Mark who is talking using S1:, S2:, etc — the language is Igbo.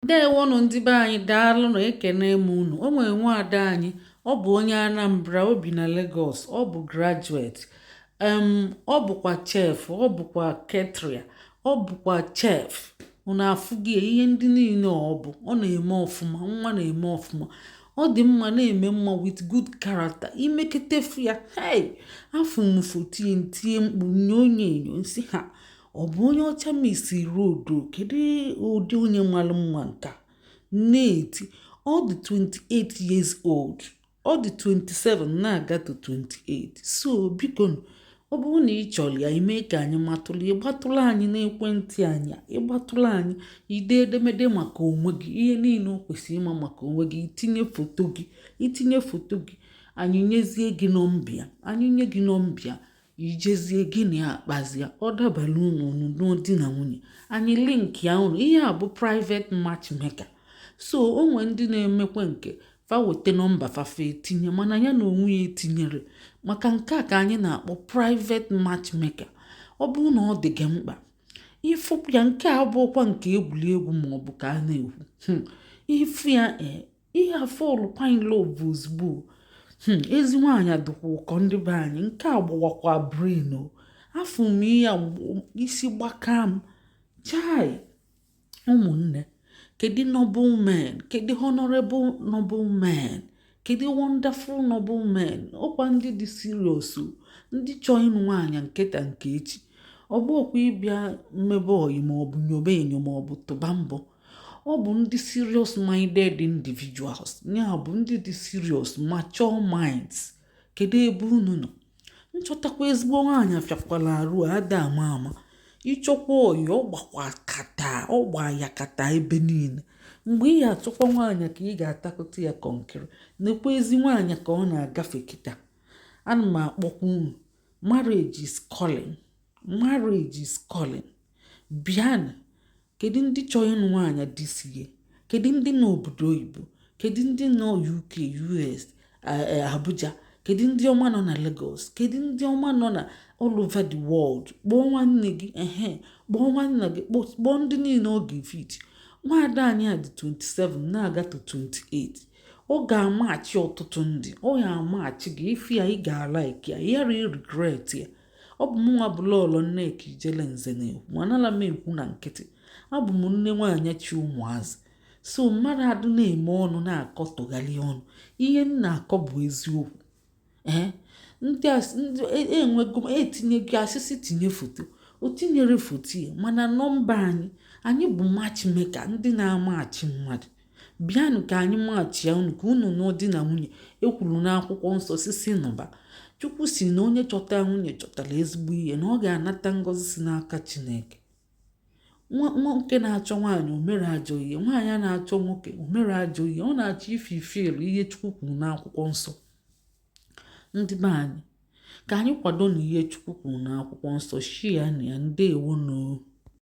S1: ndewonụ ndị be anyị daalụnụ ekene m unu o nwere nwaada anyị ọ bụ onye anambra o bi na Lagos ọ bụ graduate um ọ bụkwa chef ọ bụkwa caterer ọ bụkwa chef unu afụghị ihe ndị niile ọ bụ ọ na-eme ọfụma nwa na-eme ọfụma ọ dị mma na-eme mma with good character i mekete fụ ya hey afụ m foto ya ntie mkpu nye onye enyo nsi ha ọ bụ onye ọcha misi rodo kedu ụdị onye malụ mma nka na-eti ọ dị 28 years old ọ dị 27 na-aga to 28 so biko ọ bụrụ na ị chọrọ ya i mee ka anyị matụla ị gbatụlụ anyị n'ekwentị anyị ị gbatụlụ anyị i dee edemede maka onwe gị ihe niile o kwesịrị ịma maka onwe gị i tinye foto gị i tinye foto gị anyị nyezie gị nọmba ya anyị nye gị nọmba ya i jezie gị na ya akpazia ọ dabara unu unu nụọ di na nwunye anyị linkịa unu ihe a bụ private matchmaker so o nwee ndị na-emekwa nke fa weta nọmba fa fa etinye mana ya n'onwe ya etinyerọ maka nke a ka anyị na-akpọ private matchmaker ọ bụrụ na ọ dị gị mkpa ị fụ ya nke a abụọkwa nke egwuregwu ma ọ bụ ka a na-ekwu hmm. ị fụ ya eh, ị ya-afọlụkwa in love ozugbo hmm, ezi nwaanyị adịkwa ụkọ ndị be anyị nke a gbawakwa brain o afụ m ya isi gbaka m chai ụmụnne kedu noble men kedu honorable noble men kedu wonderful noble men ọ kwa ndị dị serious ndị chọọ ịnụ nwaanyị nke taa nke echi ọ bụọkwa ịbịa mmebe oyi maọbụ nyobe enyo maọbụ tụba mbọ ọ bụ ndị serious minded individuals ya bụ ndị dị serious mature minds kedu ebe unu nọ nchọtakwa ezigbo nwaanyị afịakwala arụ a da ama ama ị chọkwa oyi ọ gbakwa kata ọ gba yakata ebe niile mgbe ị ga-achọkwa nwaanyị ka ị ga-atakụta ya kọnkịrị nekwa ezi nwaanyị ka ọ na-agafe kịta ana m akpọkwa unu marriage is calling marriage is calling bịanụ Kedu ndị chọrọ ịnụ nwaanyị this year? Kedu ndị nọ obodo oyibo? Kedu ndị nọ UK, US, e, Abuja? Kedu ndị ọma nọ na Lagos? Kedu ndị ọma nọ na all over the world? Kpọọ nwanne gị, ehe, kpọọ nwanna gị, kpọọ ndị niile ọ ga-efit. Nwaada anyị a dị 27 na-aga to 28. Ọ ga-amachi ọtụtụ ndị, ọ ya amachi gị, ị fụ ya ị ga-alaiki ya, ị yarọ iregret ya. ọ bụ mụnwa bụ lọọlọ Nneka Ijele Nze na-ekwu ma anala m ekwu na nkịtị abụ m nne nwaanyị chị ụmụazị so mmadụ adụ na-eme ọnụ na-akọ tụgharị ọnụ ihe m na-akọ bụ eziokwu ee ndị enwego e, e etinyego asịsị tinye foto o tinyere foto ya mana nọmba anyị anyị bụ matchmaker ndị na-amachi mmadụ Bịanụ ka anyị machia unu ka unu nụọ di na nwunye e kwuru n'akwụkwọ nsọ sị sị nụba chukwu sị na onye chọta nwunye chọtara ezigbo ihe na ọ ga-anata ngọzi si n'aka chineke nwoke na-achọ nwaanyị o mere ajọ ihe nwaanyị a na-achọ nwoke o mere ajọ ihe ọ na-achọ ịfulfill ihe chukwu kwuru n'akwụkwọ nsọ ndị be anyị ka anyị kwado na ihe chukwu kwuru n'akwụkwọ nsọ share nụ ya ndewo nụ o